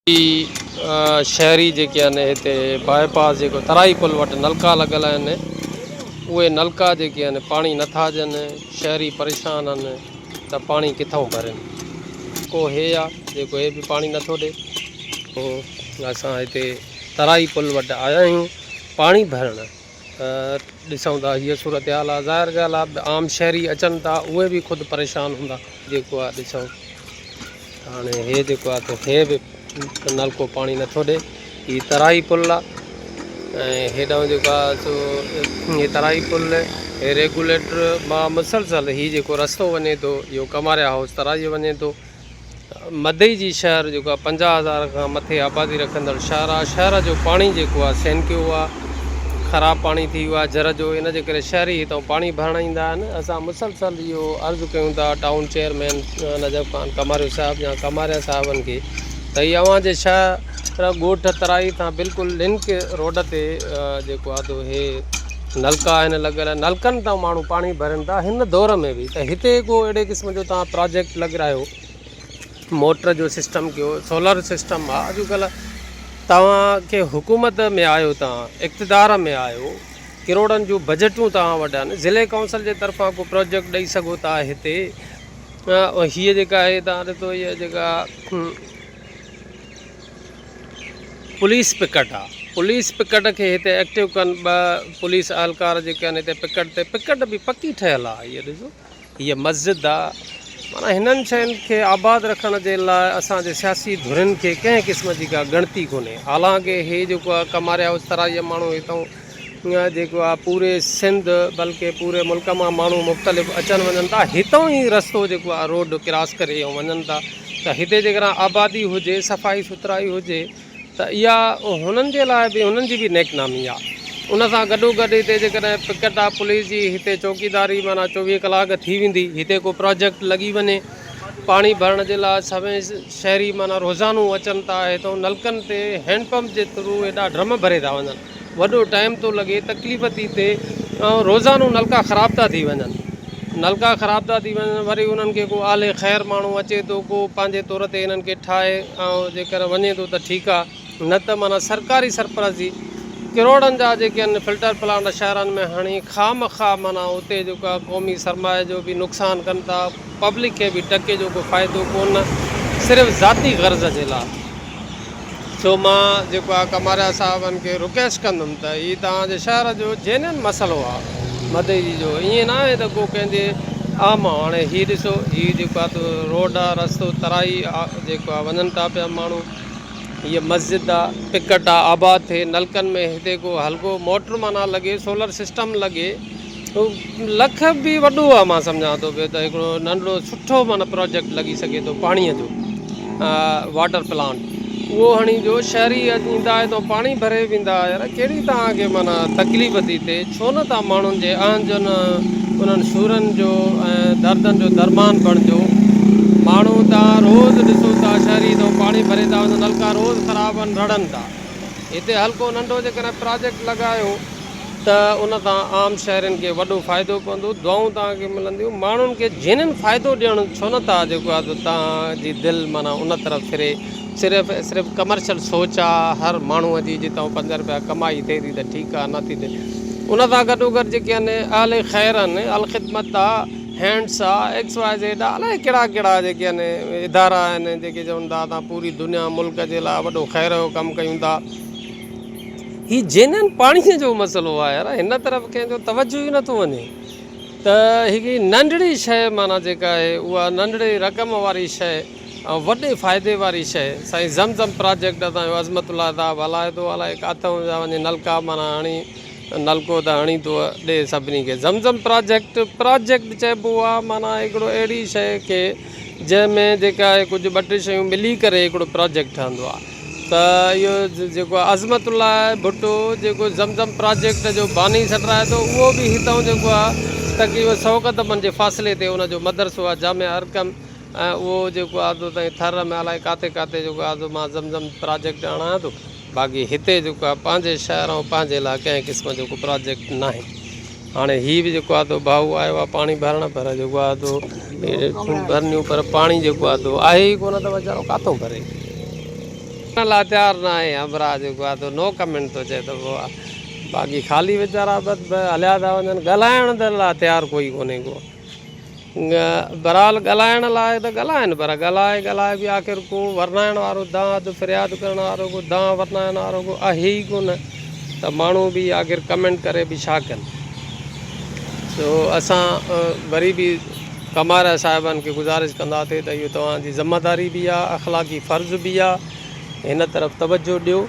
ڪي شهري جيڪي آهن هتي باء پاس جيڪو ترائي پل وٽ نلڪا لڳل آهن اهي نلڪا جيڪي آهن پاڻي نٿا ڏين شهري پريشان آهن ته پاڻي ڪٿون ڀرين کو هي آهي جيڪو هي به پاڻي نٿو ڏي اسان هتي ترائي پل وٽ آيا آهيون پاڻي ڀرڻ ڏسون ٿا هيء صورتحال آ ظاهر ڳالهه آ عام شهري اچن ٿا اهي به خود پريشان هوندا جيڪو آ ڏسون ته هاڻي هي جيڪو آ ته هي به نلڪو پاڻي نٿو ڏي هي ترائي پل آ ۽ هيڏانهن جيڪو آ سو هي ترائي پل هي ريگوليٽر مان مسلسل هي جيڪو رستو وڃي ٿو اهو ڪماريا هائوس ترائي وڃي ٿو مدئي جي شهر جيڪو آهي پنجاهه هزار کان مٿي آبادي رکندڙ شهر آهي شهر جو پاڻي جيڪو آهي سينڪيو آهي خراب پاڻي ٿي ويو آهي جر جو ان جي ڪري شهري هتان پاڻي ڀرڻ ايندا آهن اسان مسلسل اهو عرض ڪيون ٿا ٽائون چيئرمين نجف خان ڪماريو صاحب يا ڪماريا صاحبن کي ته هي اوهان جي شهر ڳوٺ ترائي تان بلڪل لنڪ روڊ تي جيڪو آهي تو هي نلڪا آهن لڳل، نلڪن تان ماڻهو پاڻي ڀرين ٿا، هن دور ۾ به ته هتي ڪو اهڙي قسم جو توهان پراجيڪٽ لڳرايو، موٽر جو سسٽم ڪيو، سولر سسٽم آ، اڄ ڪلهه توهان ڪي حڪومت ۾ آهيو توهان اقتدار ۾ آهيو، ڪروڙن جون بجيٽون توهان وٽ آهن، ضلعي ڪائونسل جي طرفان ڪو پراجيڪٽ ڏئي سگهو ٿا هتي، هيء جيڪا آهي توهان ڏسو هيء جيڪا پوليس پڪٽ آ پوليس پڪٽ کي هتي ايڪٽو ڪن ٻه پوليس اهلڪار جيڪي آهن هتي پڪٽ تي پڪٽ به پڪي ٺهيل آ هيء ڏسو هيء مسجد آ معنيٰ هنن شين کي آباد رکڻ جي لاء اسان جي سياسي ڌرين کي ڪنهن قسم جي ڪا ڳڻتي ڪونهي حالانڪه هي جيڪو آ ڪماري هائوس ترائي جا ماڻهو هتئون اها جيڪو آهي پوري سنڌ بلڪه پوري ملڪ مان ماڻهو مختلف اچن وڃن ٿا هتان ئي رستو جيڪو آهي روڊ ڪراس ڪري ۽ وڃن ٿا ته هتي جيڪڏهن آبادي هجي صفائي سٿرائي هجي ته اها هنن جي لاء به هنن جي به نيڪ نامي آهي ان سان گڏو گڏ هتي جيڪڏهن پڪٽ آف پوليس جي هتي چوڪيداري معنيٰ چوويهه ڪلاڪ ٿي ويندي هتي ڪو پروجيڪٽ لڳي وڃي پاڻي ڀرڻ جي لاء سوين شهري معنيٰ روزانو اچن ٿا هتان نلڪن تي هينڊ پمپ جي ٿرو هيڏا ڊرم ڀري ٿا وڃن وڏو ٽائيم ٿو لڳي تڪليف ٿي ٿئي ۽ روزانو نلڪا خراب ٿا ٿي وڃن نلڪا خراب ٿا ٿي وڃن وري انهن کي ڪو آلي خير ماڻهو اچي ٿو ڪو پنهنجي طور تي انهن کي ٺاهي ۽ جيڪر وڃي ٿو ته ٺيڪ آهي نه ته معنيٰ سرڪاري سرپرست جي ڪروڙن جا جيڪي آهن فلٽر پلانٽ شهرن ۾ هڻي خامخواه معنيٰ اتي جيڪو آهي قومي سرمايه جو بي نقصان ڪن ٿا پبلڪ کي به ٽڪي جو ڪو فائدو ڪون صرف ذاتي غرض جي لا سو مان جيڪو آ ڪماريا صاحبن کي رڪيسٽ ڪندم ته هي توهان جي شهر جو جينين مسئلو آ مدي جي جو ايئن نه آهي ته ڪو ڪنهن جي آ ماڻهو هاڻي هي ڏسو هي جيڪو آ تو روڊ آ رستو ترائي آ جيڪو آ وڃن ٿا پيا ماڻهو هي مسجد آ پڪٽ آ آباد ٿي نلڪن ۾ هتي ڪو هلڪو موٽر معنيٰ لڳي سولر سسٽم لڳي لک به وڏو آ مان سمجهان ٿو ڀي ته هڪڙو ننڍڙو سٺو معنيٰ پراجيڪٽ لڳي سگهي ٿو پاڻيء جو واٽر پلانٽ اهو هڻي جو شهري ايندا آهي تو پاڻي ڀري ويندا يار ڪهڙي توهان کي معنيٰ تڪليف ٿي ٿئي ڇو نه توهان ماڻهن جي اهن جن انهن سورن جو ۽ دردن جو درمان بڻجو ماڻهو توهان روز ڏسو ٿا شهري تو پاڻي ڀري ٿا وڃن نلڪا روز خراب آهن رڙن ٿا هتي هلڪو ننڍو جيڪڏهن پراجيڪٽ لڳايو ته ان تان عام شهرين کي وڏو فائدو پوندو، دعائون توهان کي ملنديون، ماڻهن کي جنين فائدو ڏيڻ ڇو نه ٿا جيڪو آهي ته توهان جي دل معنيٰ ان طرف ڦري، صرف ۽ صرف ڪمرشل سوچ آ هر ماڻهو جي جي توهان پنج رپيا ڪمائي ٿئي ٿي ته ٺيڪ آ نه ٿي ته ان سان گڏوگڏ جيڪي آهن اهل خير آهن الخدمت آ هينڊس آ ايڪس واء زيڊ آ الائي ڪهڙا ڪهڙا جيڪي آهن ادارا آهن جيڪي چون ٿا اسان پوري دنيا ملڪ جي لاء وڏو خير جو ڪم ڪيون ٿا. هي جينن پاڻيء جو مسئلو آهي يار هن طرف ڪنهن جو توجه ئي نٿو وڃي ته هڪ هي ننڍڙي شيء معنيٰ جيڪا آهي اها ننڍڙي رقم واري شيء ۽ وڏي فائدي واري شيء سائين زم زم پراجيڪٽ اسان جو عظمت الله صاحب هلائي ٿو الائي ڪاٿو پيا وڃي نلڪا معنيٰ هڻي نلڪو ته هڻي ٿو ڏي سڀني کي زم زم پراجيڪٽ پراجيڪٽ چئبو آهي معنيٰ هڪڙو اهڙي شيء کي جنهن ۾ جيڪا آهي ڪجهه ٻه ٽي شيون ملي ڪري هڪڙو پراجيڪٽ ٺهندو آهي ته اهو جيڪو عظمت الله ڀٽو جيڪو زم زم پراجيڪٽ جو باني سڏرائي ٿو اهو به هتان جيڪو آهي تقريبن سؤ قدمن جي فاصلي تي ان جو مدرسو آهي جامع ارقم ۽ اهو جيڪو آهي تو تائين ٿر ۾ الائي ڪاٿي ڪاٿي جيڪو آهي تو مان زم زم پراجيڪٽ آڻيان ٿو باقي هتي جيڪو آهي پنهنجي شهر ۽ پنهنجي لاء ڪنهن قسم جو ڪو پراجيڪٽ ناهي هاڻي هي به جيڪو آدو ڀاء آيو آهي پاڻي ڀرڻ پر جيڪو آدو ڀرنيون پر پاڻي جيڪو آدو آهي ئي ڪونه ته ويچارو ڪاٿو ڀري ڀرڻ لاء تيار نه آهي همراهه جيڪو آدو نو ڪمينٽ ٿو چئي ته باقي خالي ويچارا بس هليا ٿا وڃن ڳالهائڻ لاء تيار ڪوئي ڪونهي ڪو بھرحال ڳالھائڻ لاء ته ڳالھائن پر ڳالھائي ڳالھائي به آخر ڪو ورنائڻ وارو دانهن اڌ فرياد ڪرڻ وارو ڪو دانهن ورنائڻ وارو ڪو آھي ئي ڪو نه ته ماڻھو به آخر ڪمينٽ ڪري به ڇا ڪن سو اسان وري به ڪمارا صاحبن کي گذارش ڪنداسي ته اھو توھان جي ذمه داري به آھي اخلاقي فرض به آھي هن طرف توجه ڏيو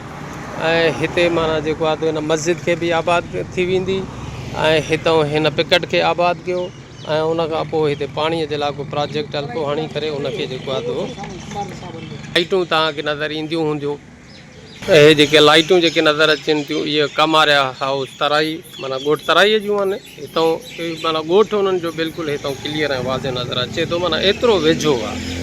۽ هتي معنيٰ جيڪو آهي هن مسجد کي به آباد ٿي ويندي ۽ هتئون هن پڪٽ کي آباد ڪيو ۽ ان کان پوء هتي پاڻيء جي لاء ڪو پراجيڪٽ هلڪو هڻي ڪري ان کي جيڪو آهي تو لائيٽون توهان کي نظر اينديون هونديون اهي جيڪي لائيٽون جيڪي نظر اچن ٿيون اهي ڪماريا هائوس ترائي معنيٰ ڳوٺ ترائيء جون آهن هتئون معنيٰ ڳوٺ انهن جو بلڪل هتئون ڪليئر ۽ واضح نظر اچي ٿو معنيٰ ايترو ويجهو آهي